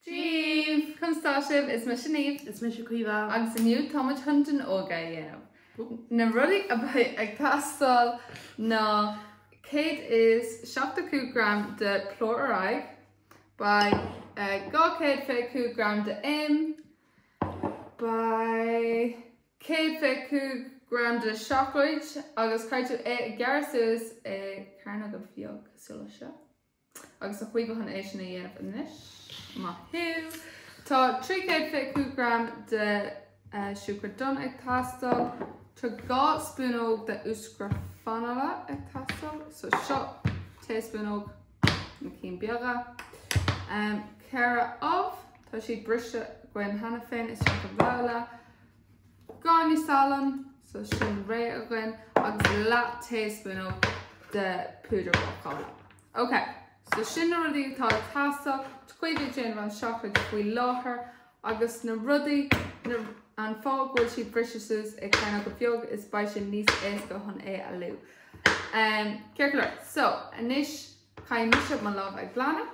Ciúin! Conas tá sibh? Is mise Niamh. Is mise Caoimhe. Agus inniu táimid chun donnóga a dhéanamh. Na rudaí a bheidh ag teastáil ná 175 gram de plúr ar aghaidh, beidh 225 gram de im, beidh 125 gram de seacláid agus caithfidh tú é a ghearradh suas i cearnóga beag cosúil le seo. Agus tá Caoimhe chun é sin a dhéanamh anois. Maith thú. Tá trí chéad fiche cúig gram de siúcra donn ag teastáil. Tá dhá spúnóg de úscra fanaile ag teastáil. So seo taespúnóg, na cinn beaga. Ceithre ubh, tá siad briste againn cheana féin isteach i mbabhla. Gráinnín salann so sin réidh againn agus leath taespúnóg de púdar bácála. Ok, so sin na rudaí atá ag teastáil Caoimhe ag déanamh an seacláid faoi láthair agus na rudaí an fáth go bhfuil siad briste suas i cearnóga beag is beidh sé níos éasca chun é a leá. Ceart go leor, so anois caithfidh mise mo lámh a ghlanadh.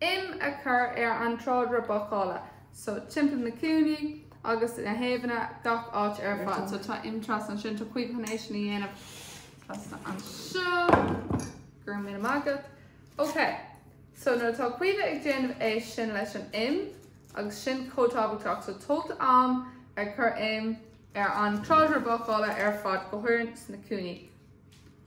im a chur ar an tráidire bácála so timpeall na cúinní agus na taobhanna gach áit ar fad so tá im trasna ansin tá caoimhe chun é sin a dhéanamh trasna anseo go raibh míle maith agat ok so nuair atá caoimhe ag déanamh é sin leis an im agus sin chomh tábhachtach so tóg d'am ar chur im ar an tráidire bácála ar fad go háirithe sna cúinní.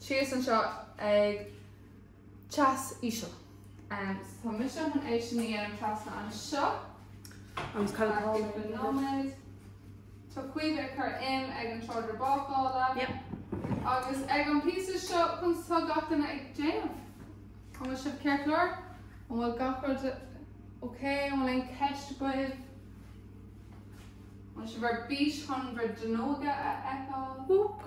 síos anseo ag teas íseal. Tá mise chun é sin a dhéanamh trasna anseo. Agus i gceann cúpla nóiméad. Tá Caoimhe ag cur im ar an tráidire bácála. Yep. Agus ag an píosa seo conas atá gach duine ag déanamh. An bhfuil sibh ceart go leor? An bhfuil gach rud ok? An bhfuil aon ceist agaibh? An bhfuil sibh ar bís chun bhur donnóga a fheiceáil? Whoop.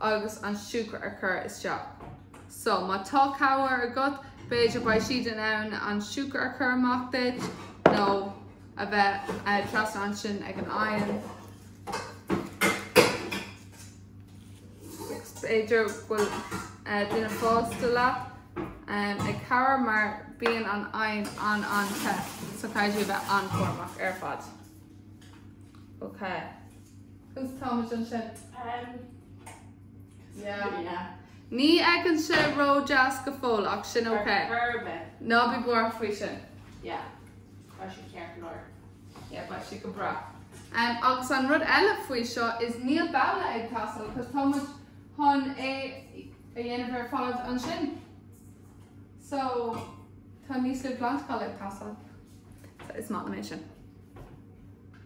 agus an siúcra a chur isteach. So, má tá cabhair agat, b'fhéidir beidh siad in ann an siúcra a chur amach duit, nó a bheith trasna ansin ag an oigheann. B'fhéidir go bhfuil duine fásta leat ag cabhair mar bíonn an oigheann an-an-te, so caithfidh tú a bheith an-chúramach ar fad. OK. Cos táimid ansin. Em. Yeah. Yeah. Ní fhéachann sé ró-deas go fóill ach sin ok. Ar chor ar bith. Ná bí buartha faoi sin. Yeah. Tá sé ceart go leor. Yeah, beidh sé go breá. Em, agus an rud eile faoi seo is níl babhla ag teastáil cos táimid chun é a dhéanamh ar fad ansin. So, tá níos lú glantacháin ag teastáil. So, is maith liom é sin.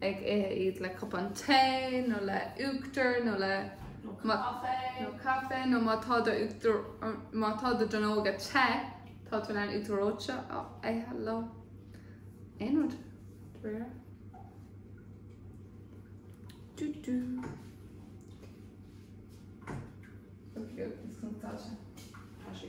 ag ithe iad le cupán tae nó le uachtar nó le nó caife nó má tá do uachtar má tá do donóga te tá tú in ann uachtar reoite a ithe leo. Aon rud? Dúir. Dú dú. Tá sé. Tá sé.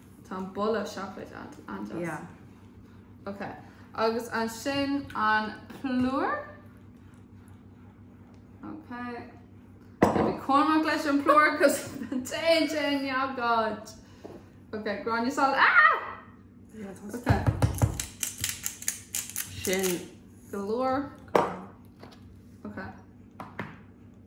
Tá an boladh seacláide an-deas. Yeah. Ok, agus ansin an plúr. Ok. Bí cúramach leis an plúr cos téann sé i ngach áit. Ok, gráinne salainn. Ah! Yeah, tá- Ok. Sin. Go leor. Ok.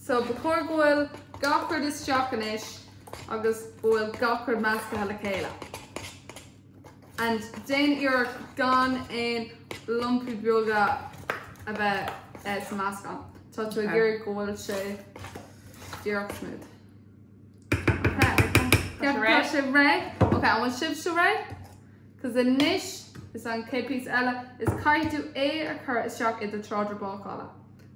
So ba chóir go bhfuil gach rud isteach anois agus go bhfuil gach rud meascaithe le chéile. And déan iarracht gan aon lumpaí beaga a bheith sa meascán. Tá tú ag iarraidh go bhfuil sé díreach smooth. Tá sé réidh. Tá sé réidh. Ok, an bhfuil sibhse réidh? Cos anois is an céad píosa eile is caithfidh tú é a chur isteach i do tráidire bácála.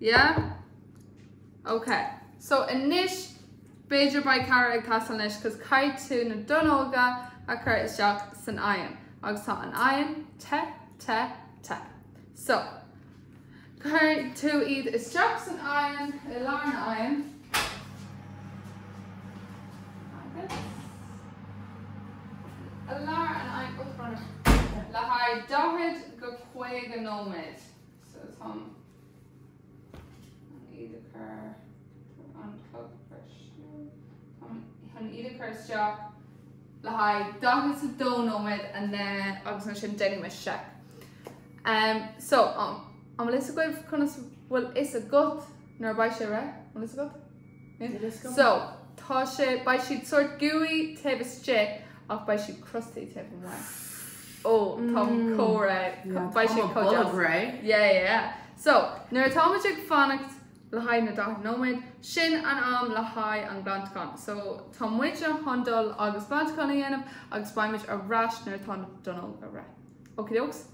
Yeah? Ok. So anois b'fhéidir beidh cabhair ag teastáil anois 'cause caithfidh tú na donnóga a chur isteach san oighean agus tá an oighean te, te, te. So, cuireann tú iad isteach san oighean, i lár an oighean. Agus, i lár an oighean, oh, brón orm, le haghaidh 40 go 50 nóiméad. So táim chun iad a chur an clog breise. Chun iad a chur isteach le haghaidh 42 nóiméad and then agus ansin déanfaidh mé seic. Um, so, um, an bhfuil a fhios agaibh conas bhfuil a fhios agat nuair a beidh sé réidh, an bhfuil a fhios agat? So, tá sé, beidh siad sórt gooey taobh istigh ach beidh siad crusty taobh amuigh. Ó, tá comhrá, beidh siad chomh deas. Yeah, yeah. So, nuair atáimid ag fanacht le haghaidh na 40 nóiméad, sin an am le haghaidh an glantachán. So, tá muidne chun dul agus glantachán a dhéanamh agus beimid ar ais nuair atá na donnóga réidh. Okie dokes?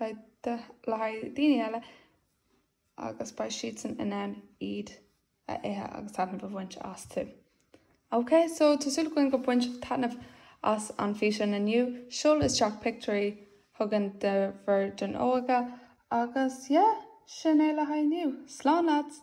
le haghaidh daoine eile agus beidh siadsan in ann iad a ithe agus taitneamh a bhaint astu. Ok, so tá súil againn go baint sibh taitneamh as an físeán inniu. Seol isteach pictiúirí chugainn de bhur donnóga agus yeah, sin é le haghaidh inniu. Slán lads!